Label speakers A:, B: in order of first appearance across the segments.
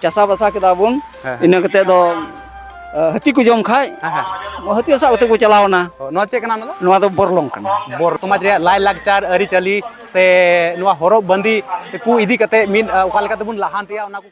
A: ᱪᱟᱥᱟ ᱵᱟᱥᱟ ᱠᱮᱫᱟ ᱵᱚᱱ ᱦᱮᱸ, ᱦᱮᱸ᱾ ᱤᱱᱟᱹ ᱠᱟᱛᱮ ᱫᱚ ᱟᱸ, ᱦᱟᱹᱛᱤ ᱠᱚ ᱡᱚᱢ ᱠᱷᱟᱡ ᱦᱮᱸ ᱦᱮᱸ ᱦᱟᱹᱛᱤ ᱥᱟᱵ ᱠᱟᱛᱮ ᱠᱚ ᱪᱟᱞᱟᱣ ᱮᱱᱟ ᱚ, ᱱᱚᱣᱟ ᱪᱮᱫ ᱠᱟᱱᱟ ᱚᱱᱟ ᱫᱚ
B: ᱱᱚᱣᱟ ᱫᱚ ᱵᱚᱨᱞᱚᱝ ᱠᱟᱱᱟ
A: ᱵᱚᱨ ᱥᱚᱢᱟᱡᱽ ᱨᱮᱭᱟᱜ ᱞᱟᱭᱼᱞᱟᱠᱪᱟᱨ
B: ᱟᱹᱨᱤᱪᱟᱹᱞᱤ ᱥᱮ ᱱᱚᱣᱟ ᱦᱚᱨᱚᱜ ᱵᱟᱸᱫᱮ ᱠᱚ ᱤᱫᱤ ᱠᱟᱛᱮ ᱢᱤᱫ ᱟᱸ, ᱚᱠᱟ ᱞᱮᱠᱟ ᱛᱮᱵᱚᱱ ᱞᱟᱦᱟᱱᱛᱤᱭᱟ ᱚᱱᱟ ᱠᱚ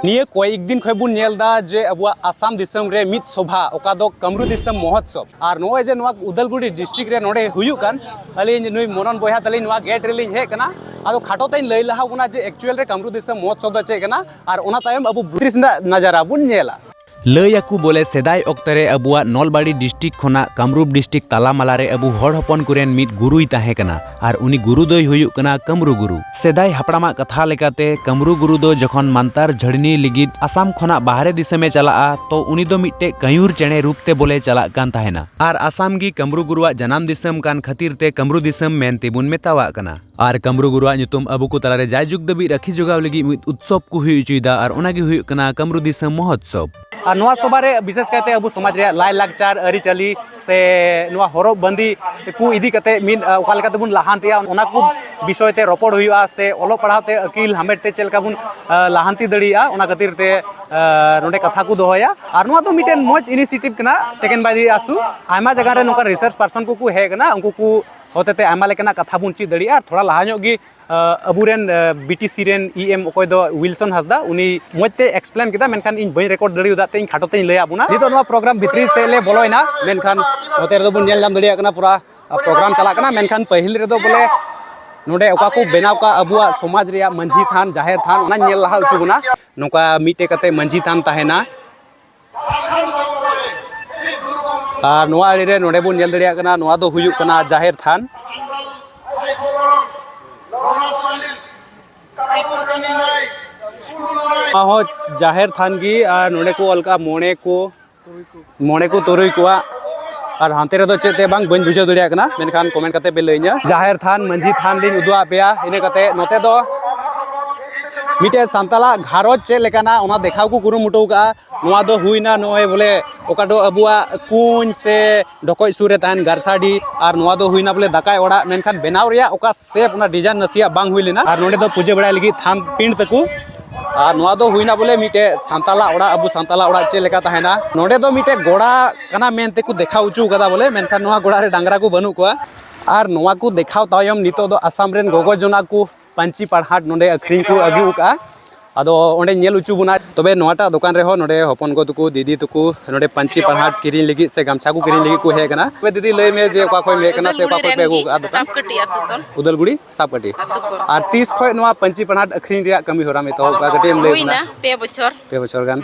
B: ᱱᱤᱭᱟᱹ ᱠᱚᱭᱮᱠ ᱫᱤᱱ ᱠᱷᱚᱱ ᱵᱚᱱ ᱧᱮᱞ ᱮᱫᱟ ᱡᱮ ᱟᱵᱚᱣᱟᱜ ᱟᱥᱟᱢ ᱫᱤᱥᱚᱢ ᱨᱮ ᱢᱤᱫ ᱥᱚᱵᱷᱟ ᱚᱠᱟ ᱫᱚ ᱠᱟᱢᱨᱩ ᱫᱤᱥᱚᱢ ᱢᱚᱦᱚᱛᱥᱚᱵ ᱟᱨ ᱱᱚᱜᱼᱚᱭ ᱡᱮ ᱱᱚᱣᱟ ᱩᱫᱟᱞᱜᱩᱲᱤ ᱰᱤᱥᱴᱨᱤᱠᱴ ᱨᱮ ᱱᱚᱰᱮ ᱦᱩᱭᱩᱜ ᱠᱟᱱ ᱟᱹᱞᱤᱧ ᱱᱩᱭ ᱢᱚᱱᱚᱱ ᱵᱚᱭᱦᱟ ᱛᱟᱹᱞᱤᱧ ᱱᱚᱣᱟ ᱜᱮᱴ ᱨᱮᱞᱤᱧ ᱦᱮᱡ ᱠᱟᱱᱟ ᱟᱫᱚ ᱠᱷᱟᱴᱚ ᱛᱮᱧ ᱞᱟᱹᱭ ᱞᱟᱦᱟ ᱵᱚᱱᱟ ᱡᱮ ᱮᱠᱪᱩᱭᱮᱞ ᱨᱮ ᱠᱟᱢᱨᱩ ᱫᱤᱥᱚᱢ ᱢᱚᱦᱚᱛᱥᱚᱵ ᱫᱚ ᱪᱮᱫ ᱠᱟᱱᱟ ᱟᱨ ᱚᱱᱟ ᱛᱟᱭᱚᱢ ᱟᱵᱚ ᱵᱨᱤᱴᱤᱥ ᱨᱮᱱᱟᱜ ᱱᱟᱡᱟᱨᱟ ᱵᱚᱱ ᱧᱮᱞᱟ ᱞᱟᱹᱭ ᱟᱠᱚ ᱵᱚᱞᱮ ᱥᱮᱫᱟᱭ ᱚᱠᱛᱮ ᱨᱮ ᱟᱵᱚᱣᱟᱜ ᱱᱚᱞᱵᱟᱲᱤ ᱰᱤᱥᱴᱨᱤᱠᱴ ᱠᱷᱚᱱᱟᱜ ᱠᱟᱢᱨᱩᱯ ᱰᱤᱥᱴᱨᱤᱠᱴ ᱛᱟᱞᱟ ᱢᱟᱞᱟ ᱨᱮ ᱟᱵᱚ ᱦᱚᱲ ᱦᱚᱯᱚᱱ ᱠᱚᱨᱮᱱ ᱢᱤᱫ ᱜᱩᱨᱩᱭ ᱛᱟᱦᱮᱸ ᱠᱟᱱᱟ ᱟᱨ ᱩᱱᱤ ᱜᱩᱨᱩ ᱫᱚᱭ ᱦᱩᱭᱩᱜ ᱠᱟᱱᱟ ᱠᱟᱢᱨᱩ ᱜᱩᱨᱩ᱾ ᱥᱮᱫᱟᱭ ᱦᱟᱯᱲᱟᱢᱟᱜ ᱠᱟᱛᱷᱟ ᱞᱮᱠᱟᱛᱮ ᱠᱟᱢᱨᱩ ᱜᱩᱨᱩ ᱫᱚ ᱡᱚᱠᱷᱚᱱ ᱢᱟᱱᱛᱟᱨ ᱡᱷᱟᱹᱲᱱᱤ ᱞᱤᱜᱤᱫ ᱟᱥᱟᱢ ᱠᱷᱚᱱᱟᱜ ᱵᱟᱦᱨᱮ ᱫᱤᱥᱟᱹᱢᱮ ᱪᱟᱞᱟᱜᱼᱟ ᱛᱚ ᱩᱱᱤ ᱫᱚ ᱢᱤᱫᱴᱮᱡ ᱠᱟᱹᱭᱩᱨ ᱪᱮᱬᱮ ᱨᱩᱯ ᱛᱮ ᱵᱚᱞᱮ ᱪᱟᱞᱟᱜ ᱠᱟᱱ ᱛᱟᱦᱮᱸᱱᱟ᱾ ᱟᱨ ᱟᱥᱟᱢ ᱜᱮ ᱠᱟᱢᱨᱩ ᱜᱩᱨᱩᱣᱟᱜ ᱡᱟᱱᱟᱢ ᱫᱤᱥᱟᱹᱢ ᱠᱟᱱ ᱠᱷᱟᱹᱛᱤᱨ ᱛᱮ ᱠᱟᱢᱨᱩ ᱫᱤᱥᱟᱹᱢ ᱢᱮᱱ ᱛᱮᱵᱚᱱ ᱢᱮᱛᱟᱣᱟᱜ ᱠᱟᱱᱟ᱾ ᱟᱨ ᱠᱟᱢᱨᱩ ᱜᱩᱨᱩᱣᱟᱜ ᱧᱩᱛᱩᱢ ᱟᱵᱚ ᱠᱚ ᱛᱟᱞᱟᱨᱮ ᱡᱟᱭᱡᱩᱜᱽ ᱫᱷᱟᱹᱵᱤᱡ ᱨᱟᱹᱠᱷᱤ ᱡᱚᱜᱟᱣ ᱞᱟᱹᱜᱤᱫ ᱢᱤᱫ ᱩᱛᱥᱚᱵ ᱠᱚ ᱦᱩᱭ ᱦᱚᱪᱚᱭᱮᱫᱟ ᱟᱨ ᱚᱱᱟᱜᱮ ᱦᱩᱭᱩᱜ ᱠᱟᱱᱟ ᱠᱟᱢᱨᱩ ᱫᱤᱥᱚᱢ ᱢᱚᱦᱚᱛᱥᱚᱵ ᱟᱨ ᱱᱚᱣᱟ ᱥᱚᱵᱷᱟ ᱨᱮ ᱵᱤᱥᱮᱥ ᱠᱟᱭᱛᱮ ᱟᱵᱚ ᱥᱚᱢᱟᱡᱽ ᱨᱮᱭᱟᱜ ᱞᱟᱭ ᱞᱟᱠᱪᱟᱨ ᱟᱹᱨᱤᱪᱟᱹᱞᱤ ᱥᱮ ᱱᱚᱣᱟ ᱦᱚᱨᱚᱜ ᱵᱟᱸᱫᱮ ᱠᱚ ᱤᱫᱤ ᱠᱟᱛᱮ ᱢᱤᱫ ᱚᱠᱟ ᱞᱮᱠᱟ ᱛᱮᱵᱚᱱ ᱞᱟᱦᱟᱱᱛᱤᱜᱼᱟ ᱚᱱᱟ ᱠᱚ ᱵᱤᱥᱚᱭ ᱛᱮ ᱨᱚᱯᱚᱲ ᱦᱩᱭᱩᱜᱼᱟ ᱥᱮ ᱚᱞᱚᱜ ᱯᱟᱲᱦᱟᱣ ᱛᱮ ᱟᱹᱠᱤᱞ ᱦᱟᱢᱮᱴ ᱛᱮ ᱪᱮᱫ ᱞᱮᱠᱟ ᱵᱚᱱ ᱞᱟᱦᱟᱱᱛᱤ ᱫᱟᱲᱮᱭᱟᱜᱼᱟ ᱚᱱᱟ ᱠᱷᱟᱹᱛᱤᱨ ᱛᱮ ᱱᱚᱰᱮ ᱠᱟᱛᱷᱟ ᱠᱚ ᱫᱚᱦᱚᱭᱟ ᱟᱨ ᱱᱚᱣᱟ ᱫᱚ ᱢᱤᱫᱴᱮᱱ ᱢᱚᱡᱽ ᱤᱱᱤᱥᱤᱭᱮᱴᱤᱵᱷ ᱠᱟᱱᱟ ᱴᱮᱠᱮᱱ ᱵᱟᱭ ᱫᱤ ᱟᱥᱩ ᱟᱭᱢᱟ ᱡᱟᱭᱜᱟ ᱨᱮ ᱱᱚᱝᱠᱟ ᱨᱤᱥᱟᱨᱪ ᱯᱟᱨᱥᱚᱱ ᱠᱚᱠᱚ ᱦᱮᱡ ᱠᱟᱱᱟ ᱩᱱᱠᱩ ᱠᱚ ᱦᱚᱛᱮᱛᱮ ᱟᱭᱢᱟ ᱞᱮᱠᱟᱱᱟᱜ ᱠᱟᱛᱷᱟ ᱵᱚᱱ ᱪᱮᱫ ᱫᱟᱲᱮᱭᱟᱜᱼᱟ ᱛᱷᱚᱲᱟ ᱞᱟᱦᱟ ᱧᱚᱜ ᱜᱮ ᱟᱵᱚᱨᱮᱱ ᱵᱤᱴᱤᱥᱤ ᱨᱮᱱ ᱤ ᱮᱢ ᱚᱠᱚᱭ ᱫᱚ ᱩᱭᱤᱞᱥᱚᱱ ᱦᱟᱸᱥᱫᱟ ᱩᱱᱤ ᱢᱚᱡᱽ ᱛᱮ ᱮᱠᱥᱯᱞᱮᱱ ᱠᱮᱫᱟ ᱢᱮᱱᱠᱷᱟᱱ ᱤᱧ ᱵᱟᱹᱧ ᱨᱮᱠᱚᱨᱰ ᱫᱟᱲᱮᱭᱟᱫᱟ ᱛᱮ ᱤᱧ ᱠᱷᱟᱴᱚ ᱛᱮᱧ ᱞᱟᱹᱭᱟᱫ ᱵᱚᱱᱟ ᱱᱤᱛᱚᱜ ᱱᱚᱣᱟ ᱯᱨᱳᱜᱨᱟᱢ ᱵᱷᱤᱛᱨᱤ ᱥᱮᱫ ᱞᱮ ᱵᱚᱞᱚᱭᱮᱱᱟ ᱢᱮᱱᱠᱷᱟᱱ ᱱᱚᱛᱮ ᱨᱮᱫᱚ ᱵᱚᱱ ᱧᱮᱞ ᱧᱟᱢ ᱫᱟᱲᱮᱭᱟᱜ ᱠᱟᱱᱟ ᱯᱩᱨᱟ ᱯᱨᱳᱜᱨᱟᱢ ᱪᱟᱞᱟᱜ ᱠᱟᱱᱟ ᱢᱮᱱᱠᱷᱟᱱ ᱯᱟᱹᱦᱤᱞ ᱨᱮᱫᱚ ᱵᱚᱞᱮ ᱱᱚᱰᱮ ᱚᱠᱟ ᱠᱚ ᱵᱮᱱᱟᱣ ᱠᱟᱜ ᱟᱵᱚᱣᱟᱜ ᱥᱚᱢᱟᱡᱽ ᱨᱮᱭᱟᱜ ᱢᱟᱹᱡᱷᱤ ᱛᱷᱟᱱ ᱡᱟᱦᱮᱨ ᱛᱷᱟᱱ ᱚᱱᱟᱧ ᱧᱮᱞ ᱞᱟᱦᱟ ᱦᱚᱪᱚ ᱵᱚᱱᱟ ᱱᱚᱝᱠᱟ ᱢᱤᱫᱴᱮᱡ ᱠᱟᱛᱮ ᱢᱟᱹᱡᱷᱤ ᱛᱷᱟᱱ ᱛᱟᱦᱮᱱᱟ ᱟᱨ ᱱᱚᱣᱟ ᱟᱲᱮ ᱨᱮ ᱱᱚᱰᱮ ᱵᱚᱱ ᱧᱮᱞ ᱫᱟᱲᱮᱭᱟᱜ ᱠᱟᱱᱟ ᱱᱚᱣᱟ ᱫᱚ ᱦᱩᱭᱩᱜ ᱠᱟᱱᱟ ᱡᱟᱦᱮᱨ ᱛᱷᱟᱱ ᱱᱚᱣᱟ ᱦᱚᱸ ᱡᱟᱦᱮᱨ ᱛᱷᱟᱱ ᱜᱮ ᱟᱨ ᱱᱚᱰᱮ ᱠᱚ ᱚᱞ ᱠᱟᱜᱼᱟ ᱢᱚᱬᱮ ᱠᱚ ᱢᱚᱬᱮ ᱠᱚ ᱛᱩᱨᱩᱭ ᱠᱚᱣᱟᱜ ᱟᱨ ᱦᱟᱱᱛᱮ ᱨᱮᱫᱚ ᱪᱮᱫ ᱛᱮ ᱵᱟᱝ ᱵᱟᱹᱧ ᱵᱩᱡᱷᱟᱹᱣ ᱫᱟᱲᱮᱭᱟᱜ ᱠᱟᱱᱟ ᱢᱮᱱᱠᱷᱟᱱ ᱠᱚᱢᱮᱱᱴ ᱠᱟᱛᱮ ᱯᱮ ᱞᱟᱹᱭᱟᱹᱧᱟ ᱡᱟᱦᱮᱨ ᱛᱷᱟᱱ ᱢᱟᱹᱡᱷᱤ ᱛᱷᱟᱱ ᱞᱤᱧ ᱩᱫᱩᱜ ᱟᱫ ᱯᱮᱭᱟ ᱤᱱᱟᱹ ᱠᱟᱛᱮ ᱱᱚᱛᱮ ᱫᱚ ᱢᱤᱫᱴᱮᱡ ᱥᱟᱱᱛᱟᱞᱟᱜ ᱜᱷᱟᱨᱚᱸᱡᱽ ᱪᱮᱫ ᱞᱮᱠᱟᱱᱟ ᱚᱱᱟ ᱫᱮᱠᱷᱟᱣ ᱠᱚ ᱠᱩᱨᱩᱢᱩᱴᱩ ᱠᱟᱜᱼᱟ ᱱᱚᱣᱟ ᱫᱚ ᱦᱩᱭᱱᱟ ᱱᱚᱜᱼᱚᱭ ᱵᱚᱞᱮ ᱚᱠᱟ ᱫᱚ ᱟᱵᱚᱣᱟᱜ ᱠᱩᱧ ᱥᱮ ᱰᱷᱚᱠᱚᱡ ᱥᱩᱨ ᱨᱮ ᱛᱟᱦᱮᱱ ᱜᱟᱨᱥᱟᱰᱤ ᱟᱨ ᱱᱚᱣᱟ ᱫᱚ ᱦᱩᱭᱱᱟ ᱵᱚᱞᱮ ᱫᱟᱠᱟᱭ ᱚᱲᱟᱜ ᱢᱮᱱᱠᱷᱟᱱ ᱵᱮᱱᱟᱣ ᱨᱮᱭᱟᱜ ᱚᱠᱟ ᱥᱮᱯ ᱚᱱᱟ ᱰᱤᱡᱟᱭᱤᱱ ᱱᱟᱥᱮᱭᱟᱜ ᱵᱟᱝ ᱦᱩᱭ ᱞᱮᱱᱟ ᱟᱨ ᱱᱚᱰᱮ ᱫᱚ ᱯᱩᱡᱟᱹ ᱵᱟᱲᱟᱭ ᱞᱟᱹᱜᱤᱫ ᱛᱷᱟᱱ ᱯᱤᱸᱰ ᱛᱟᱠᱚ ᱟᱨ ᱱᱚᱣᱟ ᱫᱚ ᱦᱩᱭᱱᱟ ᱵᱚᱞᱮ ᱢᱤᱫᱴᱮᱡ ᱥᱟᱱᱛᱟᱞᱟᱜ ᱚᱲᱟᱜ ᱟᱵᱚ ᱥᱟᱱᱛᱟᱞᱟᱜ ᱚᱲᱟᱜ ᱪᱮᱫ ᱞᱮᱠᱟ ᱛᱟᱦᱮᱱᱟ ᱱᱚᱰᱮ ᱫᱚ ᱢᱤᱫᱴᱮᱡ ᱜᱚᱲᱟ ᱠᱟᱱᱟ ᱢᱮᱱᱛᱮ ᱠᱚ ᱫᱮᱠᱷᱟᱣ ᱦᱚᱪᱚ ᱠᱟᱫᱟ ᱵᱚᱞᱮ ᱢᱮᱱᱠᱷᱟᱱ ᱱᱚᱣᱟ ᱜᱚᱲᱟ ᱨᱮ ᱰᱟᱝᱨᱟ ᱠᱚ ᱵᱟᱹᱱᱩᱜ ᱠᱚᱣᱟ ᱟᱨ ᱱᱚᱣᱟ ᱠᱚ ᱫᱮᱠᱷᱟᱣ ᱛᱟᱭᱚᱢ ᱱᱤᱛᱚᱜ ᱫᱚ ᱟᱥᱟᱢ ᱨᱮᱱ ᱜᱚᱜᱚ ᱡᱚᱱᱟ ᱠᱚ ᱯᱟᱹᱧᱪᱤ ᱯᱟᱲᱦᱟᱴ ᱱᱚᱰᱮ ᱟᱹᱠᱷᱨᱤᱧ ᱠᱚ ᱟᱹᱜᱩ ᱟᱠᱟᱫᱼᱟ ᱟᱫᱚ ᱚᱸᱰᱮ ᱧᱮᱞ ᱦᱚᱪᱚ ᱵᱚᱱᱟ ᱛᱚᱵᱮ ᱱᱚᱣᱟᱴᱟᱜ ᱫᱚᱠᱟᱱ ᱨᱮᱦᱚᱸ ᱱᱚᱰᱮ ᱦᱚᱯᱚᱱ ᱜᱚ ᱛᱟᱠᱚ ᱫᱤᱫᱤ ᱛᱟᱠᱚ ᱱᱚᱰᱮ ᱯᱟᱹᱧᱪᱤ ᱯᱟᱲᱦᱟᱴ ᱠᱤᱨᱤᱧ ᱞᱟᱹᱜᱤᱫ ᱥᱮ ᱜᱟᱢᱪᱷᱟ ᱠᱚ ᱠᱤᱨᱤᱧ ᱞᱟᱹᱜᱤᱫ ᱠᱚ ᱦᱮᱡ ᱟᱠᱟᱱᱟ ᱛᱚᱵᱮ ᱫᱤᱫᱤ ᱞᱟᱹᱭ ᱢᱮ ᱡᱮ ᱚᱠᱟ ᱠᱷᱚᱱ ᱦᱮᱡ ᱟᱠᱟᱱᱟ ᱥᱮ ᱚᱠᱟ ᱠᱷᱚᱱ ᱯᱮ ᱟᱹᱜᱩ ᱟᱠᱟᱫᱼᱟ ᱫᱚᱠᱟᱱ ᱩᱫᱟᱞᱜᱩᱲᱤ ᱥᱟᱯᱠᱟᱹᱴᱤ ᱟᱨ ᱛᱤᱥ ᱠᱷᱚᱱ ᱱᱚᱣᱟ ᱯᱟᱹᱧᱪᱤ ᱯᱟᱲᱦᱟᱴ ᱟᱹᱠᱷᱨᱤᱧ ᱨᱮᱭᱟᱜ ᱠᱟᱹᱢᱤ ᱦᱚᱨᱟᱢ ᱮᱛᱚᱦᱚᱵ ᱟᱠᱟᱫᱼᱟ ᱠᱟᱹᱴᱤᱡ ᱮᱢ ᱞᱟᱹᱭ ᱟᱵᱚᱱᱟ ᱯᱮ ᱵᱚᱪᱷᱚᱨ ᱜᱟᱱ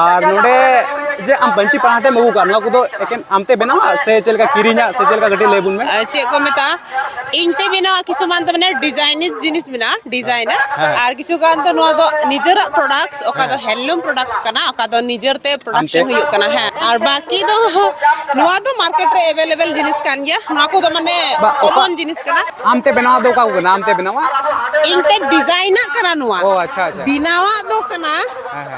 C: ᱟᱨ ᱱᱚᱰᱮ
B: ᱡᱮ ᱟᱢ ᱯᱟᱹᱧᱪᱤ ᱯᱟᱲᱦᱟᱴᱮᱢ ᱟᱹᱜᱩ ᱠᱟᱜ ᱱᱚᱣᱟ ᱠᱚᱫᱚ ᱮᱠᱮᱱ ᱟᱢᱛᱮ ᱵᱮᱱᱟᱣᱟ ᱥᱮ ᱪᱮᱫ ᱞᱮᱠᱟ ᱠᱤᱨᱤᱧᱟ ᱥᱮ ᱪᱮᱫ ᱞᱮᱠᱟ ᱠᱟᱹᱴᱤᱡ ᱞᱟᱹᱭ ᱵᱚᱱ ᱢᱮ ᱪᱮᱫ ᱠᱚ ᱢᱮᱛᱟᱜᱼᱟ
C: ᱤᱧ ᱛᱮ ᱵᱮᱱᱟᱣᱟ ᱠᱤᱪᱷᱩ ᱢᱟᱱ ᱫᱚ ᱢᱟᱱᱮ ᱰᱤᱡᱟᱭᱤᱱᱤᱡ ᱡᱤᱱᱤᱥ ᱢᱮᱱᱟᱜᱼᱟ ᱰᱤᱡᱟᱭᱤᱱᱟᱨ ᱟᱨ ᱠᱤᱪᱷᱩ ᱜᱟᱱ ᱫᱚ ᱱᱚᱣᱟ ᱫᱚ ᱱᱤᱡᱮᱨᱟᱜ ᱯᱨᱚᱰᱟᱠᱴᱥ ᱚᱠᱟ ᱫᱚ ᱦᱮᱱᱰᱞᱩᱢ ᱯᱨᱚᱰᱟᱠᱴᱥ ᱠᱟᱱᱟ ᱚᱠᱟ ᱫᱚ ᱱᱤᱡᱮᱨ ᱛᱮ ᱯᱨᱚᱰᱟᱠᱥᱚᱱ ᱦᱩᱭᱩᱜ ᱠᱟᱱᱟ ᱦᱮᱸ ᱟᱨ ᱵᱟᱹᱠᱤ ᱫᱚ ᱱᱚᱣᱟ ᱫᱚ ᱢᱟᱨᱠᱮᱴ ᱨᱮ ᱮᱵᱮᱞᱮᱵᱮᱞ ᱡᱤᱱᱤᱥ ᱠᱟᱱ ᱜᱮᱭᱟ ᱱᱚᱣᱟ ᱠᱚᱫᱚ ᱢᱟᱱᱮ ᱠᱚᱢᱚᱱ ᱡᱤᱱᱤᱥ ᱠᱟᱱᱟ ᱟᱢᱛᱮ ᱵᱮᱱᱟᱣ ᱫᱚ ᱚᱠᱟ ᱠᱚ
B: ᱠᱟᱱᱟ ᱟᱢᱛᱮ ᱵᱮᱱᱟᱣᱟ ᱤᱧ ᱛᱮ
C: ᱰᱤᱡᱟᱭᱤᱱᱟᱜ ᱠᱟᱱᱟ ᱱᱚᱣᱟ ᱚ ᱟᱪᱪᱷᱟ ᱟᱪᱪᱷᱟ ᱵᱮᱱᱟᱣᱟᱜ
B: ᱫᱚ ᱠᱟᱱᱟ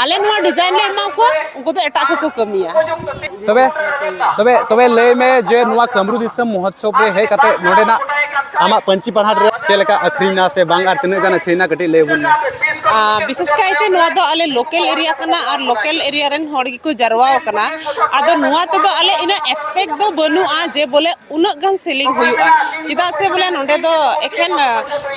C: ᱟᱞᱮ ᱱᱚᱣᱟ ᱰᱤᱡᱟᱭᱤᱱ ᱞᱮ ᱮᱢᱟ ᱠᱚᱣᱟ ᱩᱱᱠᱩ ᱫᱚ ᱮᱴᱟᱜ ᱠᱚᱠᱚ ᱠᱟᱹᱢᱤᱭᱟ ᱛᱚᱵᱮ
B: ᱛᱚᱵᱮ ᱛᱚᱵᱮ ᱞᱟᱹᱭ ᱢᱮ ᱡᱮ ᱱᱚᱣᱟ ᱠᱟᱢᱨᱩ ᱫᱤᱥᱚᱢ ᱢᱚᱦᱚᱛᱥᱚᱵ ᱨᱮ ᱦᱮᱡ ᱠᱟᱛᱮ ᱱᱚᱰᱮᱱᱟᱜ ᱟᱢᱟᱜ ᱯᱟᱹᱧᱪᱤ ᱯᱟᱲᱦᱟᱴ ᱨᱮ ᱪᱮᱫ ᱞᱮᱠᱟ ᱟᱹᱠᱷᱨᱤᱧᱱᱟ ᱥᱮ ᱵᱟᱝ ᱟᱨ ᱛᱤᱱᱟᱹᱜ ᱜᱟᱱ ᱟᱹᱠᱷᱨᱤᱧᱱᱟ ᱠᱟᱹᱴᱤᱡ ᱞᱟᱹᱭ ᱵᱚᱱ ᱢᱮ ᱵᱤᱥᱮᱥ
C: ᱠᱟᱭᱛᱮ ᱱᱚᱣᱟ ᱫᱚ ᱟᱞᱮ ᱞᱳᱠᱮᱞ ᱮᱨᱤᱭᱟ ᱠᱟᱱᱟ ᱟᱨ ᱞᱳᱠᱮᱞ ᱮᱨᱤᱭᱟ ᱨᱮᱱ ᱦᱚᱲ ᱜᱮᱠᱚ ᱡᱟᱨᱣᱟ ᱟᱠᱟᱱᱟ ᱟᱫᱚ ᱱᱚᱣᱟ ᱛᱮᱫᱚ ᱟᱞᱮ ᱤᱱᱟᱹ ᱮᱠᱥᱯᱮᱠᱴ ᱫᱚ ᱵᱟᱹᱱᱩᱜᱼᱟ ᱡᱮ ᱵᱚᱞᱮ ᱩᱱᱟᱹᱜ ᱜᱟᱱ ᱥᱮᱞᱤᱝ ᱦᱩᱭᱩᱜᱼᱟ ᱪᱮᱫᱟᱜ ᱥᱮ ᱵᱚᱞᱮ ᱱᱚᱰᱮ ᱫᱚ ᱮᱠᱷᱮᱱ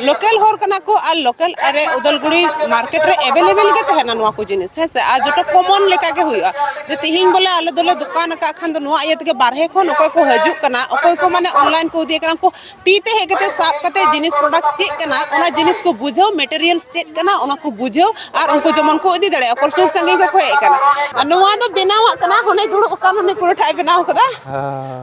C: ᱞᱳᱠᱟᱞ ᱦᱚᱲ ᱠᱟᱱᱟ ᱠᱚ ᱟᱨ ᱞᱳᱠᱟᱞ ᱟᱨᱮ ᱩᱫᱟᱞᱜᱩᱲᱤ ᱢᱟᱨᱠᱮᱴ ᱨᱮ ᱮᱵᱮᱞᱮᱵᱮᱞ ᱜᱮ ᱛᱟᱦᱮᱱᱟ ᱱᱚᱣᱟ ᱠᱚ ᱡᱤᱱᱤᱥ ᱦᱮᱸ ᱥᱮ ᱟᱨ ᱡᱚᱛᱚ ᱠᱚᱢᱚᱱ ᱞᱮᱠᱟ ᱜᱮ ᱦᱩᱭᱩᱜᱼᱟ ᱡᱮ ᱛᱤᱦᱤᱧ ᱵᱚᱞᱮ ᱟᱞᱮ ᱫᱚᱞᱮ ᱫᱚᱠᱟᱱ ᱟᱠᱟᱫ ᱠᱷᱟᱱ ᱫᱚ ᱱᱚᱣᱟ ᱤᱭᱟᱹ ᱛᱮᱜᱮ ᱵᱟᱨᱦᱮ ᱠᱷᱚᱱ ᱚᱠᱚᱭ ᱠᱚ ᱦᱤᱡᱩᱜ ᱠᱟᱱᱟ ᱚᱠᱚᱭ ᱠᱚ ᱢᱟᱱᱮ ᱚᱱᱞᱟᱭᱤᱱ ᱠᱚ ᱤᱫᱤᱭᱮ ᱠᱟᱱᱟ ᱠᱚ ᱛᱤ ᱛᱮ ᱦᱮᱡ ᱠᱟᱛᱮ ᱥᱟᱵ ᱠᱟᱛᱮ ᱡᱤᱱᱤᱥ ᱯᱨᱚᱰᱟᱠᱴ ᱪᱮᱫ ᱠᱟᱱᱟ ᱚᱱᱟ ᱡᱤᱱᱤᱥ ᱠᱚ ᱵᱩᱡᱷᱟᱹᱣ ᱢᱮᱴᱮᱨᱤᱭᱟᱞ ᱪᱮᱫ ᱠᱟᱱᱟ ᱚᱱᱟ ᱠᱚ ᱵᱩᱡᱷᱟᱹᱣ ᱟᱨ ᱩᱱᱠᱩ ᱡᱮᱢᱚᱱ ᱠᱚ ᱤᱫᱤ ᱫᱟᱲᱮᱭᱟᱜᱼᱟ ᱚᱠᱚᱭ ᱥᱩᱨ ᱥᱟᱺᱜᱤᱧ ᱠᱚᱠᱚ ᱦᱮᱡ ᱠᱟᱱᱟ ᱱᱚᱣᱟ ᱫᱚ ᱵᱮᱱᱟᱣᱟᱜ ᱠᱟᱱᱟ ᱦᱚᱱᱮ ᱫᱩᱲᱩᱵ ᱟᱠᱟᱱ ᱩᱱᱤ ᱠᱩᱲᱤᱴᱟᱜ ᱵᱮᱱᱟᱣ ᱠᱟᱫᱟ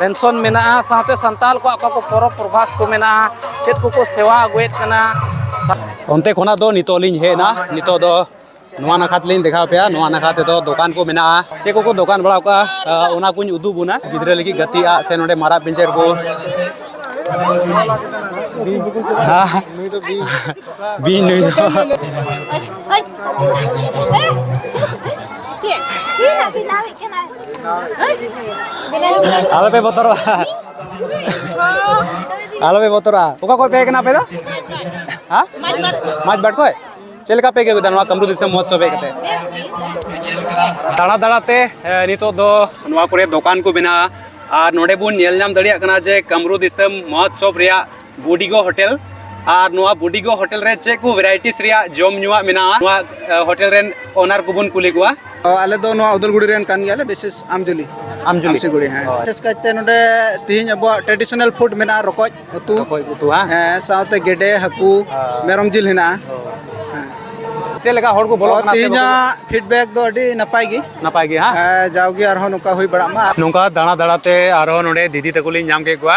D: ᱢᱮᱱᱥᱚᱱ ᱢᱮᱱᱟᱜᱼᱟ ᱥᱟᱶᱛᱮ ᱥᱟᱱᱛᱟᱲ ᱠᱚᱣᱟᱜ ᱚᱠᱟ ᱠᱚ ᱯᱚᱨᱚᱵᱽ ᱯᱨᱚᱵᱷᱟᱥ ᱠᱚ ᱢᱮᱱᱟᱜᱼᱟ ᱪᱮᱫ ᱠᱚᱠᱚ ᱥᱮᱣᱟ ᱟᱹᱜᱩᱭᱮᱫ ᱠᱟᱱᱟ ᱚᱱᱛᱮ
B: ᱠᱷᱚᱱᱟᱜ ᱫᱚ ᱱᱤᱛᱚᱜ ᱞᱤᱧ ᱦᱮᱡ ᱮᱱᱟ ᱱᱤᱛᱚᱜ ᱫᱚ ᱱᱚᱣᱟ ᱱᱟᱠᱷᱟ ᱛᱮᱞᱤᱧ ᱫᱮᱠᱷᱟᱣ ᱯᱮᱭᱟ ᱱᱚᱣᱟ ᱱᱟᱠᱷᱟ ᱛᱮᱫᱚ ᱫᱚᱠᱟᱱ ᱠᱚ ᱢᱮᱱᱟᱜᱼᱟ ᱪᱮᱫ ᱠᱚᱠᱚ ᱫᱚᱠᱟᱱ ᱵᱟᱲᱟᱣ ᱠᱟᱜᱼᱟ ᱚᱱᱟ ᱠᱚᱧ ᱩᱫᱩᱜ ᱵᱚᱱᱟ ᱜᱤᱫᱽᱨᱟᱹ ᱞᱟᱹᱜᱤᱫ ᱜᱟᱛᱮᱜᱼᱟ ᱥᱮ ᱱᱚᱰᱮ ᱢᱟᱨᱟᱜ ᱯᱤᱧᱪᱟᱹᱨ ᱠᱚ ᱵᱤᱧ ᱱᱩᱭ ᱫᱚ ᱟᱞᱚ ᱯᱮ ᱵᱚᱛᱚᱨᱚᱜᱼᱟ ᱟᱞᱚ ᱯᱮ ᱵᱚᱛᱚᱨᱚᱜᱼᱟ ᱚᱠᱟ ᱠᱷᱚᱡ ᱯᱮ ᱦᱮᱡ ᱠᱟᱱᱟ ᱟᱯᱮ ᱫᱚ ᱦᱮᱸ ᱢᱟᱡᱽ ᱵᱟᱴ ᱠᱷᱚᱡ ᱪᱮᱫ ᱞᱮᱠᱟ ᱯᱮ ᱟᱹᱭᱠᱟᱹᱣ ᱠᱮᱫᱟ ᱱᱚᱣᱟ ᱠᱟᱢᱨᱩ ᱫᱤᱥᱚᱢ ᱢᱚᱦᱚᱛᱥᱚᱵ ᱦᱮᱡ ᱠᱟᱛᱮ ᱫᱟᱬᱟ ᱫᱟᱬᱟᱛᱮ ᱱᱤᱛᱚᱜ ᱫᱚ ᱱᱚᱣᱟ ᱠᱚᱨᱮ ᱫᱚᱠᱟᱱ ᱠᱚ ᱢᱮᱱᱟᱜᱼᱟ ᱟᱨ ᱱᱚᱰᱮ ᱵᱚᱱ ᱧᱮᱞ ᱧᱟᱢ ᱫᱟᱲᱮᱭᱟᱜ ᱠᱟᱱᱟ ᱡᱮ ᱠᱟᱢᱨᱩ ᱫᱤᱥᱚᱢ ᱢᱚᱦᱚᱛᱥᱚᱵ ᱨᱮᱭᱟᱜ ᱵᱩᱰᱤᱜᱚ ᱦᱳᱴᱮᱞ ᱟᱨ ᱱᱚᱣᱟ ᱵᱩᱰᱤᱜᱚ ᱦᱳᱴᱮᱞ ᱨᱮ ᱪᱮᱫ ᱠᱚ ᱵᱷᱮᱨᱟᱭᱴᱤᱥ ᱨᱮᱭᱟᱜ ᱡᱚᱢ ᱧᱩᱣᱟᱜ ᱢᱮᱱᱟᱜᱼᱟ ᱱᱚᱣᱟ ᱦᱳᱴᱮᱞ ᱨᱮᱱ ᱚᱱᱟᱨ ᱠᱚᱵᱚᱱ ᱠᱩᱞᱤ ᱠᱚᱣᱟ ᱟᱞᱮ ᱫᱚ ᱱᱚᱣᱟ ᱩᱫᱟᱞᱜᱩᱲᱤ
E: ᱨᱮᱱ ᱠᱟᱱ ᱜᱮᱭᱟᱞᱮ ᱵᱤᱥᱮᱥ ᱟᱢᱡᱩᱞᱤ ᱟᱢᱡᱩᱞᱤ ᱟᱢᱥᱤᱜᱩᱲᱤ ᱦᱮᱸ ᱵᱤᱥᱮᱥ ᱠᱟᱭᱛᱮ ᱱᱚᱰᱮ ᱛᱤᱦᱤᱧ ᱟᱵᱚᱣᱟᱜ ᱴᱨᱮᱰᱤᱥᱚᱱᱟᱞ ᱯᱷᱩᱰ ᱢᱮᱱᱟᱜᱼᱟ ᱨᱚᱠᱚᱡ ᱩᱛᱩ ᱨᱚᱠᱚᱡ ᱩᱛᱩ ᱦᱟᱸ ᱦᱮᱸ ᱥᱟᱶᱛᱮ ᱜᱮᱰᱮ ᱦᱟᱹᱠᱩ ᱢᱮᱨᱚᱢ ᱡᱤᱞ ᱦᱮᱱᱟᱜᱼᱟ
B: ᱪᱮᱫ ᱞᱮᱠᱟ ᱦᱚᱲ ᱠᱚ ᱵᱚᱞᱚᱜ ᱠᱟᱱᱟ ᱛᱤᱦᱤᱧᱟᱜ ᱯᱷᱤᱰᱵᱮᱠ
E: ᱫᱚ ᱟᱹᱰᱤ ᱱᱟᱯᱟᱭ ᱜᱮ ᱱᱟᱯᱟᱭ ᱜᱮ ᱦᱟᱸ
B: ᱡᱟᱣᱜᱮ ᱟᱨᱦᱚᱸ
E: ᱱᱚᱝᱠᱟ ᱦᱩᱭ ᱵᱟᱲᱟᱜ ᱢᱟ ᱱᱚᱝᱠᱟ ᱫᱟᱬᱟ ᱫᱟᱬᱟᱛᱮ
B: ᱟᱨᱦᱚᱸ ᱱᱚᱰᱮ ᱫᱤᱫᱤ ᱛᱟᱠᱚ ᱞᱤᱧ ᱧᱟᱢ ᱠᱮᱫ ᱠᱚᱣᱟ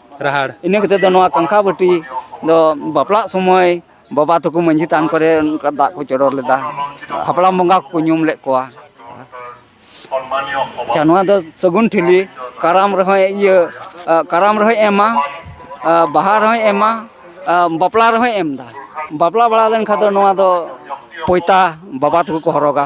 F: ᱨᱟᱦᱟᱲ ᱤᱱᱟᱹ ᱠᱟᱛᱮ ᱫᱚ ᱱᱚᱣᱟ ᱠᱟᱝᱠᱷᱟ ᱵᱟᱹᱴᱤ ᱫᱚ ᱵᱟᱯᱞᱟᱜ ᱥᱚᱢᱚᱭ ᱵᱟᱵᱟ ᱛᱟᱠᱚ ᱢᱟᱺᱡᱷᱤ ᱛᱷᱟᱱ ᱠᱚᱨᱮ ᱚᱱᱠᱟ ᱫᱟᱜ ᱠᱚ ᱪᱚᱰᱚᱨ ᱞᱮᱫᱟ ᱦᱟᱯᱲᱟᱢ ᱵᱚᱸᱜᱟ ᱠᱚᱠᱚ ᱧᱩᱢ ᱞᱮᱫ ᱠᱚᱣᱟ ᱟᱪᱪᱷᱟ ᱱᱚᱣᱟ ᱫᱚ ᱥᱟᱹᱜᱩᱱ ᱴᱷᱤᱞᱤ ᱠᱟᱨᱟᱢ ᱨᱮᱦᱚᱸᱭ ᱤᱭᱟᱹ ᱠᱟᱨᱟᱢ ᱨᱮᱦᱚᱸᱭ ᱮᱢᱟ ᱵᱟᱦᱟ ᱨᱮᱦᱚᱸᱭ ᱮᱢᱟ ᱵᱟᱯᱞᱟ ᱨᱮᱦᱚᱸᱭ ᱮᱢᱫᱟ ᱵᱟᱯᱞᱟ ᱵᱟᱲᱟ ᱞᱮᱱᱠᱷᱟᱱ ᱫᱚ ᱱᱚᱣᱟ ᱫᱚ ᱯᱚᱸᱭᱛᱟ ᱵᱟᱵᱟ ᱛᱟᱠᱚ ᱠᱚ ᱦᱚᱨᱚᱜᱟ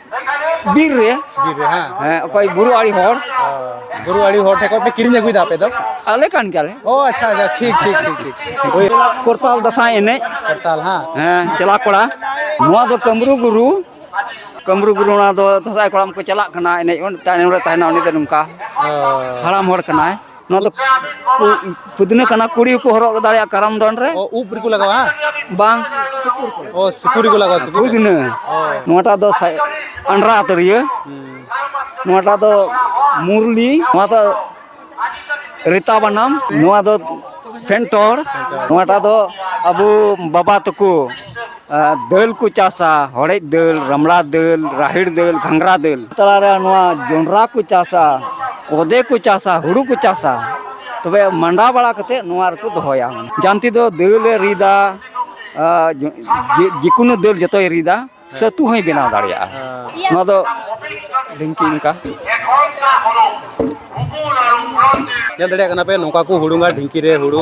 F: ᱵᱤᱨ ᱨᱮ ᱵᱤᱨ ᱨᱮ ᱦᱮᱸ ᱦᱮᱸ ᱚᱠᱚᱭ ᱵᱩᱨᱩ ᱟᱲᱤ ᱦᱚᱲ ᱵᱩᱨᱩ ᱟᱲᱤ ᱦᱚᱲ ᱴᱷᱮᱱ ᱠᱷᱚᱱ ᱯᱮ ᱠᱤᱨᱤᱧ ᱟᱹᱜᱩᱭᱮᱫᱟ ᱟᱯᱮ ᱫᱚ ᱟᱞᱮ ᱠᱟᱱ ᱜᱮᱭᱟᱞᱮ ᱚ ᱟᱪᱪᱷᱟ ᱟᱪᱪᱷᱟ ᱴᱷᱤᱠ ᱴᱷᱤᱠ
A: ᱴᱷᱤᱠ ᱴᱷᱤᱠ ᱳᱭ ᱠᱚᱨᱛᱟᱞ
F: ᱫᱟᱸᱥᱟᱭ ᱮᱱᱮᱡ ᱠᱚᱨᱛᱟᱞ ᱦᱮᱸ ᱦᱮᱸ
A: ᱪᱟᱞᱟ ᱠᱚᱲᱟ
F: ᱱᱚᱣᱟ ᱫᱚ ᱠᱟᱢᱨᱩ ᱜᱩᱨᱩ ᱠᱟᱢᱨᱩ ᱜᱩᱨᱩ ᱚᱱᱟ ᱫᱚ ᱫᱟᱸᱥᱟᱭ ᱠᱚᱲᱟᱢ ᱠᱚ ᱪᱟᱞᱟᱜ ᱠᱟᱱᱟ ᱮᱱᱮᱡ ᱛᱟᱭᱱᱚᱢ ᱨᱮ ᱛᱟᱦᱮᱱᱟ ᱩᱱᱤ ᱫᱚ ᱱᱚᱝᱠᱟ ᱦᱟᱲᱟᱢ ᱦᱚᱲ ᱠᱟᱱᱟᱭ ᱱᱚᱣᱟ ᱫᱚ ᱯᱩᱫᱤᱱᱟ ᱠᱟᱱᱟ ᱠᱩᱲᱤ ᱠᱚ ᱦᱚᱨᱚᱜ ᱫᱟᱲᱮᱭᱟᱜᱼᱟ ᱠᱟᱨᱟᱢ ᱫᱚᱱ ᱨᱮ ᱚ ᱩᱵ ᱨᱮᱠᱚ ᱞᱟᱜᱟᱣᱟ
A: ᱵᱟᱝ
F: ᱚ
A: ᱥᱤᱠᱩᱨ ᱨᱮᱠᱚ ᱞᱟᱜᱟᱣᱟ ᱥᱤᱠᱩᱨ ᱯᱩᱫᱤᱱᱟ
F: ᱱᱚᱣᱟᱴᱟᱜ ᱫᱚ ᱟᱱᱰᱨᱟ ᱟᱛᱟᱹᱨᱤᱭᱟᱹ ᱱᱚᱣᱟᱴᱟᱜ ᱫᱚ ᱢᱩᱨᱞᱤ ᱱᱚᱣᱟ ᱫᱚ ᱨᱤᱛᱟ ᱵᱟᱱᱟᱢ ᱱᱚᱣᱟ ᱫᱚ ᱯᱷᱮᱱᱴᱚᱲ ᱱᱚᱣᱟᱴᱟᱜ ᱫᱚ ᱟᱵᱚ ᱵᱟᱵᱟ ᱛᱟᱠᱚ ᱫᱟᱹᱞ ᱠᱚ ᱪᱟᱥᱟ ᱦᱚᱲᱮᱡ ᱫᱟᱹᱞ ᱨᱟᱢᱲᱟ ᱫᱟᱹᱞ ᱨᱟᱦᱮᱲ ᱫᱟᱹᱞ ᱜᱷᱟᱸᱜᱽᱨᱟ ᱫᱟᱹᱞ ᱛᱟᱞᱟᱨᱮ ᱱᱚᱣᱟ ᱡᱚᱸᱰᱨᱟ ᱠᱚ ᱪᱟᱥᱟ ᱠᱚᱫᱮ ᱠᱚ ᱪᱟᱥᱟ ᱦᱩᱲᱩ ᱠᱚ ᱪᱟᱥᱟ ᱛᱚᱵᱮ ᱢᱟᱸᱰᱟ ᱵᱟᱲᱟ ᱠᱟᱛᱮᱫ ᱱᱚᱣᱟ ᱨᱮᱠᱚ ᱫᱚᱦᱚᱭᱟ ᱡᱟᱱᱛᱤ ᱫᱚ ᱫᱟᱹᱞᱮ ᱨᱤᱫᱟ ᱡᱮᱠᱳᱱᱳ ᱫᱟᱹᱞ ᱡᱚᱛᱚᱭ ᱨᱤᱫᱟ ᱥᱟᱹᱛᱩ ᱦᱚᱸᱭ ᱵᱮᱱᱟᱣ ᱫᱟᱲᱮᱭᱟᱜᱼᱟ ᱱᱚᱣᱟ ᱫᱚ ᱰᱷᱤᱝᱠᱤ ᱚᱱᱠᱟ ᱧᱮᱞ
A: ᱫᱟᱲᱮᱭᱟᱜ ᱠᱟᱱᱟ ᱯᱮ ᱱᱚᱝᱠᱟ ᱠᱚ ᱦᱩᱲᱩᱝᱟ ᱰᱷᱤᱝᱠᱤ ᱨᱮ ᱦᱩᱲᱩ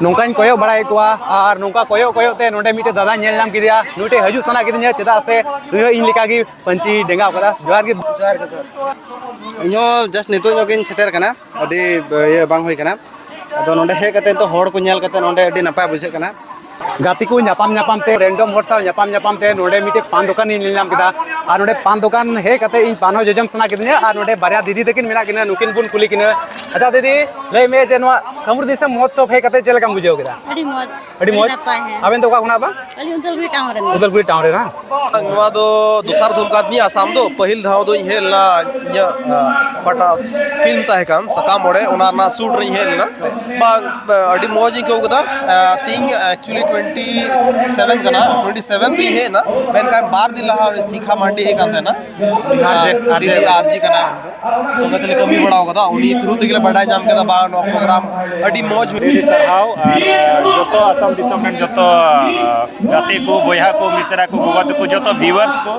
A: ᱱᱚᱝᱠᱟᱧ ᱠᱚᱭᱚᱜ ᱵᱟᱲᱟᱭᱮᱫ ᱠᱚᱣᱟ ᱟᱨ ᱱᱚᱝᱠᱟ ᱠᱚᱭᱚᱜ ᱠᱚᱭᱚᱜ ᱛᱮ ᱱᱚᱰᱮ ᱢᱤᱫᱴᱮᱱ ᱫᱟᱫᱟ ᱧᱮᱞ ᱧᱟᱢ ᱠᱮᱫᱮᱭᱟ ᱱᱩᱭ ᱴᱷᱮᱱ ᱦᱤᱡᱩᱜ ᱥᱟᱱᱟ ᱠᱤᱫᱤᱧᱟ ᱪᱮᱫᱟᱜ ᱥᱮ ᱱᱩᱭ ᱦᱚᱸ ᱤᱧ ᱞᱮᱠᱟᱜᱮ ᱯᱟᱹᱧᱪᱤ ᱰᱮᱸᱜᱟᱣ ᱠᱟᱫᱟ ᱡᱚᱦᱟᱨ ᱜᱮ ᱡᱚᱦᱟᱨ ᱜᱮ
E: ᱤᱧ ᱦᱚᱸ ᱡᱟᱥᱴ ᱱᱤᱛᱚᱜ ᱧᱚᱜ ᱜᱤᱧ ᱥᱮᱴᱮᱨ ᱠᱟᱱᱟ ᱟᱹᱰᱤ ᱤᱭᱟᱹ ᱵᱟᱝ ᱦᱩᱭ ᱠᱟᱱᱟ ᱟᱫᱚ ᱱᱚᱰᱮ ᱦᱮᱡ ᱠᱟᱛᱮ ᱱᱤᱛᱚᱜ ᱦᱚᱲ ᱠᱚ ᱧᱮᱞ ᱠᱟᱛᱮ ᱱᱚᱰᱮ ᱟᱹᱰᱤ ᱱᱟᱯᱟᱭ ᱵᱩᱡᱷᱟᱹᱜ ᱠᱟᱱᱟ ᱜᱟᱛᱮ ᱠᱚ
A: ᱧᱟᱯᱟᱢ ᱧᱟᱯᱟᱢ ᱛᱮ ᱨᱮᱱᱰᱚᱢ ᱦᱚᱲ ᱥᱟᱶ ᱧᱟᱯᱟᱢ ᱧᱟᱯᱟᱢ ᱛᱮ ᱱᱚᱰᱮ ᱢᱤᱫᱴᱮᱡ ᱯᱟᱱ ᱫᱚᱠᱟᱱᱤᱧ ᱧᱮᱞ ᱧᱟᱢ ᱠᱮᱫᱟ ᱟᱨ ᱱᱚᱰᱮ ᱯᱟᱱ ᱫᱚᱠᱟᱱ ᱦᱮᱡ ᱠᱟᱛᱮ ᱤᱧ ᱯᱟᱱ ᱦᱚᱸ ᱡᱚᱡᱚᱢ ᱥᱟᱱᱟ ᱠᱤᱫᱤᱧᱟ ᱟᱨ ᱱᱚᱰᱮ ᱵᱟᱨᱭᱟ ᱫᱤᱫᱤ ᱛᱟᱹᱠᱤᱱ ᱢᱮᱱᱟᱜ ᱠᱤᱱᱟ ᱱᱩᱠᱤᱱ ᱵᱚᱱ ᱠᱩᱞᱤ ᱠᱤᱱᱟ ᱟᱪᱪᱷᱟ ᱫᱤᱫᱤ ᱞᱟᱹᱭ ᱢᱮ ᱡᱮ ᱱᱚᱣᱟ ᱠᱟᱢᱨᱩ ᱫᱤᱥᱚᱢ ᱢᱚᱦᱚᱛᱥᱚᱵ ᱦᱮᱡ ᱠᱟᱛᱮ ᱪᱮᱫ ᱞᱮᱠᱟᱢ ᱵᱩᱡᱷᱟᱹᱣ ᱠᱮᱫᱟ ᱟᱹᱰᱤ ᱢᱚᱡᱽ ᱟᱹᱰᱤ ᱢᱚᱡᱽ ᱟᱵᱮᱱ ᱫᱚ ᱚᱠᱟ ᱠᱷᱚᱱᱟᱜ ᱵᱟᱝ ᱟᱹᱞᱤᱧ ᱩᱫᱟᱞᱜᱩᱲᱤ ᱴᱟᱣᱩᱱ
G: ᱨᱮᱱ ᱩᱫᱟᱞᱜᱩᱲᱤ
A: ᱴᱟᱣᱩᱱ ᱨᱮᱱ ᱵᱟᱝ ᱱᱚᱣᱟ ᱫᱚ
H: ᱫᱚᱥᱟᱨ ᱫᱷᱩᱢ ᱠᱟᱱ ᱛᱤᱧᱟᱹ ᱟᱥᱟᱢ ᱫᱚ ᱯᱟᱹᱦᱤᱞ ᱫᱷᱟᱣ ᱫᱚᱧ ᱦᱮᱡ ᱞᱮᱱᱟ ᱤᱧᱟᱹᱜ ᱚᱠᱟᱴᱟᱜ ᱯᱷᱤᱞᱢ ᱛᱟᱦᱮᱸ ᱠᱟᱱ ᱥᱟᱠᱟᱢ ᱚᱲᱮᱡ ᱚᱱᱟ ᱨᱮᱱᱟᱜ ᱥᱩᱴ ᱨᱤᱧ ᱦᱮᱡ ᱞᱮᱱᱟ ᱵᱟᱝ ᱟᱹᱰᱤ ᱢᱚᱡᱽ ᱤᱧ ᱟᱹᱭᱠᱟᱹᱣ ᱠᱮᱫᱟ ᱛᱮᱦᱮᱧ ᱮᱠᱪᱩᱞᱞᱤ ᱴᱩᱭᱮᱱᱴᱤ ᱥᱮᱵᱷᱮᱱ ᱠᱟᱱᱟ ᱴᱩᱭᱮᱱᱴᱤ ᱥᱮᱵᱷᱮᱱ ᱛᱤᱧ ᱦᱮᱡ ᱮᱱᱟ ᱢᱮᱱᱠᱷᱟᱱ ᱵᱟᱨ ᱫᱤᱱ ᱞᱟᱦᱟ ᱥᱤᱠᱷᱟ ᱢᱟᱱᱰᱤ ᱦᱮᱡ ᱠᱟᱱ ᱛᱟᱦᱮᱱᱟ ᱟᱨ ᱡᱮ ᱠᱟᱱᱟᱭ ᱥᱚᱸᱜᱮ ᱛᱮᱞᱮ ᱠᱟᱹᱢᱤ ᱵᱟᱲᱟᱣ ᱠᱟᱫᱟ ᱩᱱᱤ ᱛᱷᱨᱩ ᱛᱮᱜᱮ ᱞᱮ ᱵᱟᱰᱟᱭ ᱧᱟᱢ ᱠᱮᱫᱟ ᱵᱟᱝ ᱱᱚᱣᱟ ᱯᱨᱳᱜᱨᱟᱢ ᱟᱹᱰᱤ ᱢᱚᱡᱽ ᱦᱩᱭ ᱟᱹᱰᱤ ᱥᱟᱨᱦᱟᱣ ᱟᱨ
G: ᱡᱚᱛᱚ ᱟᱥᱟᱢ ᱫᱤᱥᱚᱢ ᱨᱮᱱ ᱡᱚᱛᱚ ᱜᱟᱛᱮ ᱠᱚ ᱵᱚᱭᱦᱟ ᱠᱚ ᱢᱤᱥᱨᱟ ᱠᱚ ᱜᱚᱜᱚ ᱛᱟᱠᱚ ᱡᱚᱛᱚ ᱵᱷᱤᱣᱟᱨᱥ ᱠᱚ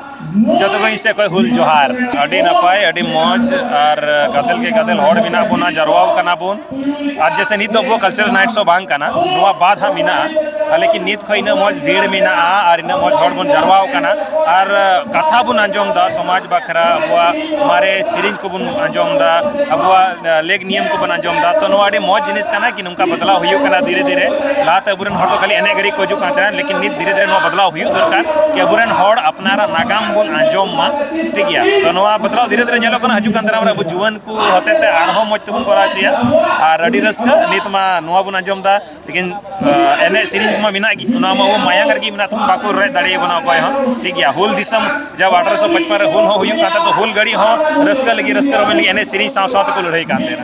G: ᱡᱚᱛᱚ ᱠᱚ ᱤᱧ ᱥᱮᱫ ᱠᱷᱚᱱ ᱦᱩᱞ ᱡᱚᱦᱟᱨ ᱟᱹᱰᱤ ᱱᱟᱯᱟᱭ ᱟᱹᱰᱤ ᱢᱚᱡᱽ ᱟᱨ ᱜᱟᱫᱮᱞ ᱜᱮ ᱜᱟᱫᱮᱞ ᱦᱚᱲ ᱢᱮᱱᱟᱜ ᱵᱚᱱᱟ ᱡᱟᱨᱣᱟᱣ ᱠᱟᱱᱟ ᱵᱚᱱ ᱟᱨ ᱡᱮᱥᱮ ᱱᱤᱛ ᱫᱚ ᱟᱵᱚ ᱠᱟᱞᱪᱟᱨ ᱱᱟᱭᱤᱴ ᱥᱚ ᱵᱟᱝ ᱠᱟᱱᱟ ᱱᱚᱣᱟ ᱵᱟᱫ ᱦᱟᱸᱜ ᱢᱮᱱᱟᱜᱼᱟ ᱞᱮᱠᱤᱱ ᱱᱤᱛ ᱠᱷᱚᱱ ᱤᱱᱟᱹᱜ ᱢᱚᱡᱽ ᱵᱷᱤᱲ ᱢᱮᱱᱟᱜᱼᱟ ᱟᱨ ᱤᱱᱟᱹᱜ ᱢᱚᱡᱽ ᱦᱚᱲ ᱵᱚᱱ ᱡᱟᱨᱣᱟ ᱟᱠᱟᱱᱟ ᱟᱨ ᱠᱟᱛᱷᱟ ᱵᱚᱱ ᱟᱸᱡᱚᱢ ᱮᱫᱟ ᱥᱚᱢᱟᱡᱽ ᱵᱟᱠᱷᱨᱟ ᱟᱵᱚᱣᱟᱜ ᱢᱟᱨᱮ ᱥᱮᱨᱮᱧ ᱠᱚᱵᱚᱱ ᱟᱸᱡᱚᱢ ᱮᱫᱟ ᱟᱵᱚᱣᱟᱜ ᱞᱮᱠ ᱱᱤᱭᱚᱢ ᱠᱚᱵᱚᱱ ᱟᱸᱡᱚᱢ ᱮᱫᱟ ᱛᱚ ᱱᱚᱣᱟ ᱟᱹᱰᱤ ᱢᱚᱡᱽ ᱡᱤᱱᱤᱥ ᱠᱟᱱᱟ ᱠᱤ ᱱᱚᱝᱠᱟ ᱵᱚᱫᱞᱟᱣ ᱦᱩᱭᱩᱜ ᱠᱟᱱᱟ ᱫᱷᱤᱨᱮ ᱫᱷᱤᱨᱮ ᱞᱟᱦᱟᱛᱮ ᱟᱵᱚᱨᱮᱱ ᱦᱚᱲ ᱫᱚ ᱠᱷᱟᱹᱞᱤ ᱮᱱᱮᱡ ᱜᱷᱟᱹᱲᱤᱡ ᱠᱚ ᱦᱤᱡᱩᱜ ᱠᱟᱱ ᱛᱟᱦᱮᱱᱟ ᱞᱮᱠᱤᱱ ᱱᱤᱛ ᱫᱷᱤᱨᱮ ᱫᱷᱤᱨᱮ ᱱᱚᱣᱟ ᱵᱚᱫᱞᱟᱣ ᱦᱩᱭᱩᱜ ᱫᱚᱨᱠᱟᱨ ᱠᱤ ᱟᱵᱚᱨᱮᱱ ᱦᱚᱲ ᱟᱯᱱᱟᱨᱟᱜ ᱱᱟᱜᱟᱢ ᱵᱚᱱ ᱟᱸᱡᱚᱢ ᱢᱟ ᱴᱷᱤᱠ ᱜᱮᱭᱟ ᱛᱚ ᱱᱚᱣᱟ ᱵᱚᱫᱞᱟᱣ ᱫᱷᱤᱨᱮ ᱫᱷᱤᱨᱮ ᱧᱮᱞᱚᱜ ᱠᱟᱱᱟ ᱦᱤᱡᱩᱜ ᱠᱟᱱ ᱫᱟᱨᱟᱢ ᱨᱮ ᱟᱵᱚ ᱡᱩᱣᱟᱹᱱ ᱠᱚ ᱦᱚᱛᱮ ᱛᱮ ᱟᱨᱦᱚᱸ ᱢᱚᱡᱽ ᱛᱮᱵᱚᱱ ᱠᱚᱨᱟᱣ ᱦᱚᱪᱚᱭᱟ ᱟᱨ ᱟᱹᱰᱤ ᱨᱟᱹᱥᱠᱟᱹ ᱱᱤᱛ ᱢᱟ ᱱᱚᱣᱟ ᱵᱚᱱ ᱟᱸᱡᱚᱢ ᱮᱫᱟ ᱞᱮᱠᱤᱱ ᱮᱱᱮᱡ ᱥᱮᱨᱮᱧ ᱢᱟ ᱢᱮᱱᱟᱜ ᱜᱮ ᱚᱱᱟ ᱢᱟ ᱟᱵᱚ ᱢᱟᱭᱟᱝ ᱨᱮᱜᱮ ᱢᱮᱱᱟᱜ ᱛᱟᱵᱚᱱ ᱵᱟᱠᱚ ᱨᱮᱡ ᱫᱟᱲᱮᱭᱟᱵᱚᱱᱟ ᱚᱠᱚᱭ ᱦᱚᱸ ᱴᱷᱤᱠ ᱜᱮᱭᱟ ᱦᱩᱞ ᱫᱤᱥᱚᱢ ᱡᱟᱵ ᱟᱴᱷᱨᱚ ᱥᱚ ᱯᱟᱸᱪᱯᱚᱱ ᱨᱮ ᱦᱩᱞ ᱦᱚᱸ ᱦᱩᱭᱩᱜ ᱠᱟᱱ ᱛᱟᱦᱮᱸ ᱦᱩᱞ ᱜᱷᱟᱹᱲᱤ ᱦᱚᱸ ᱨᱟᱹᱥᱠᱟᱹ ᱞᱟᱹᱜᱤᱫ ᱨᱟᱹᱥᱠᱟᱹ ᱨᱚᱢᱚᱡᱽ ᱞᱟᱹᱜᱤᱫ ᱮᱱᱮᱡ ᱥᱮᱨᱮᱧ ᱥᱟᱶ ᱥᱟᱶ ᱛᱮᱠᱚ ᱞᱟᱹᱲᱦᱟᱹᱭ ᱠᱟᱱ ᱛᱟᱦᱮᱱᱟ